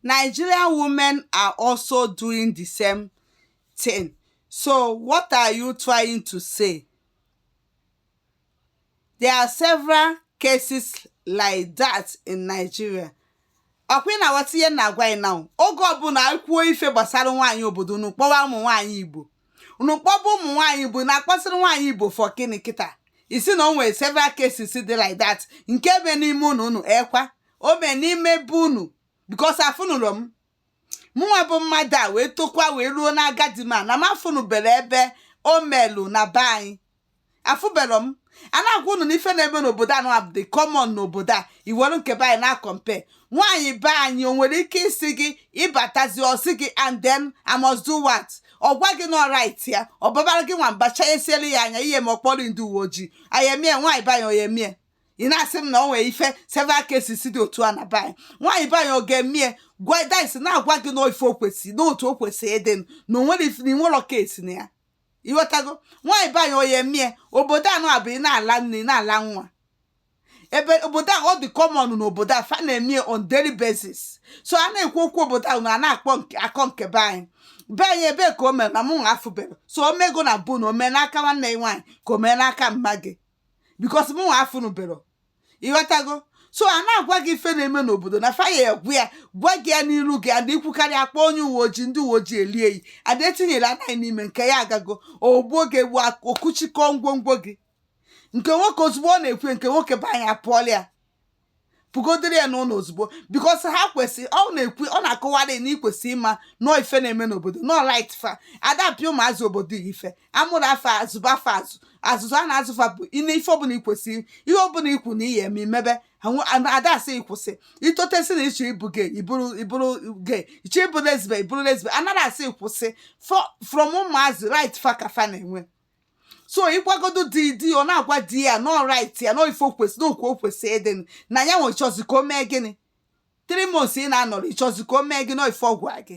Nigerian women are also doing the same thing. So what are you trying to say? There are several cases like that in Nigeria. ọkwa ị na-aghọta ihe m na-agwa gị now oge ọbụla anyị kwuo ife gbasara nwaanyị obodo unu kpọwa ụmụ nwaanyị Igbo unu kpọba ụmụ nwaanyị igbo na-akpọsịrị nwaanyị igbo for gịnị kịta ị sị na o nwere several cases dị like that nke ebe n'ime unu unu ekwa o mee n'ime be unu because afụnụlọ m mụnwa bụ mmadụ a wee tokwa wee ruo n'agadi mana m afụnụbere ebe o melu na be anyị afụbelọ m a na-agwa unu na ife na-eme n'obodo a nọ a bụ dị common n'obodo a i were nke be anyị na-acompare nwaanyị be anyị o nwere ike ịsị gị ị batazi ọ sị gị and then I must do what ọ gwa gị na ọ right ya ọ babara gị nwamba chanyesielu ya anya ihe ma ọ kpọrọ ndị uwe ojii ayemie nwaanyị be anyị ọ ya-emie ị na-asị m na ọ nwere ife several cases dị otu a na be anyị nwaanyị be anyị ọ ga-emie gwa dis na-agwa gị na ife o kwesịrị na otu o kwesịrị ịdị na o nwere ife na i nwere case na ya ịghọtago nwaanyị be anyị ọ ya-emie obodo a nọ a bụ ị na-ala nne ị na-ala nwa ebe obodo a ọ dị common n'obodo a fa na-eme ya on daily basis so a na-ekwu okwu obodo ahụ na a na-akpọ nke- akọ nke be anyị be anyị ebe ka o mere na mụ nwa afụbere so o mego na bụ na o mee n'aka nwanne gị nwaanyị ka o mee n'aka mama gị because mụ nwa afụnụbero ịghọtago so a na-agwa gị ife na-eme n'obodo na fa ya-ekwu ya gwa gị ya n'iru gị and i kwukarị a kpọọ onye uwe ojii ndị uwe ojii elie yi ada etinyere anaghị n'ime nke ya agago o gbuo gị egbu okuchikọ ngwongwo gị nke nwoke ozugbo ọ na-ekwu nke nwoke be anyị apụọla ya pụgodere ya n'ụlọ ozugbo because ha kwesị ọ na-ekwu ọ na-akọwara na i kwesị ịma na ọ ife na-eme n'obodo na ọ right fa ada apịa ụmụazị obodo a ife a mụrụ fa a zụba fa azụ azụzụ a na-azụ fa bụ ime ife ọbụla i kwesịrị ihe ọbụla i kwu na ị ya-eme i mebe ada asị gị kwụsị i totesi na ịchọ ịbụ gay ịbụrụ ịbụrụ gay ịchọ ịbụ lesbe ịbụrụ lesbe anaghị asị gị kwụsị from ụmụazị right fa ka fa na-enwe so ị gwagodo di di ọ na-agwa di ya na ọ right ya na ọ ife o kwesị na otu o kwesị ịdị na ya nwe chọzi ka o mee gịnị three months ị na-anọrọ ịchọzi ka o mee gị nọ ife ọgwụ gị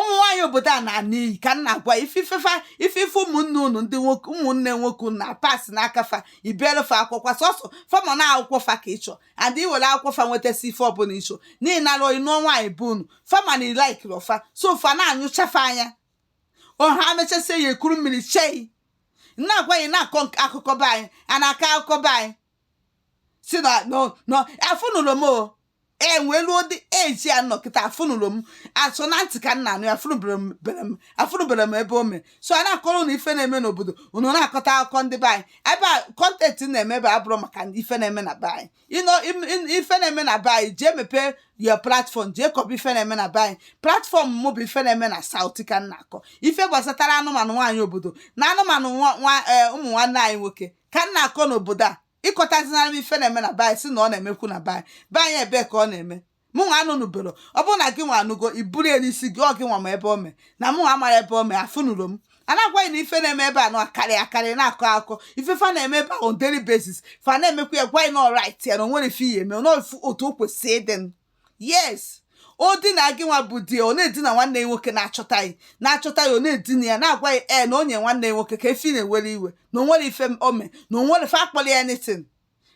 ụmụ nwaanyị obodo a na-ana iyi ka m na-agwa ife fa ife ụmụnne unu ndị nwoke ụmụnne nwoke unu na-apass n'aka fa i biele fa akwụkwọ so so fa ma na akwụkwọ fa ka ị chọ and i were akwụkwọ fa nwetasị ife ọbụla ị chọ n'ihi na alụ ị nụọ nwaanyị be unu fa ma na ị likeirọ fa so fa na-anyụcha fa anya ọ ha mechasịa ya ekuru mmiri che gị na-agwa ya na-akọ akụkọ be anyị a na-akọ akụkọ be anyị si na afụnụlọ m o enwelu ụdị eji ya nọ kịta afụnụrụ m a sọ na ntị ka m na-anụ ya afụnụbere m bere m afụnụbere m ebe o mere so a na-akọrọ na ife na-eme n'obodo unu na-akọta akụkọ ndị be anyị ebe a content m na-eme ebe a abụrọ maka ife na-eme na be anyị ịnọ im- im- ife na-eme na be anyị jee mepee your platform jee kọba ife na-eme na be anyị platform mụ bụ ife na-eme na South ka m na-akọ ife gbasataranụ ụmụ nwaanyị obodo na ụmụ nwa- nwa- eh, ụmụ nwanne anyị nwoke ka m na-akọ n'obodo a ị kọtazinara m ife na-eme na be anyị sị na ọ na-emekwu na be anyị be anyị ebee ka ọ na-eme mụ nwa anụnụbero ọ bụrụ na gị nwa anụgo i buru ya n'isi gị ọ gị nwa ma ebe o mee na mụ nwa amarọ ebe o mee afụnụrụ m a na-agwa gị na ife na-eme ebe a na-akarị akarị na-akọ akụkọ ife fa na-eme ebe a on daily basis fa na-emekwa ya gwa anyị na ọ right ya na o nwere ife i ye-eme na ọ bụ otu o kwesịrị ịdị yes o dina gị nwa bụ di ọ na-edina nwanne ya nwoke na-achọta ya na-achọta ya ọ na-edina ya na-agwa ya ee na onye nwanne ya nwoke ka efi na-ewere iwe na o nwere ife o me na o nwere fa akpọli anything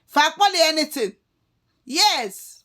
fa akpọli anything yes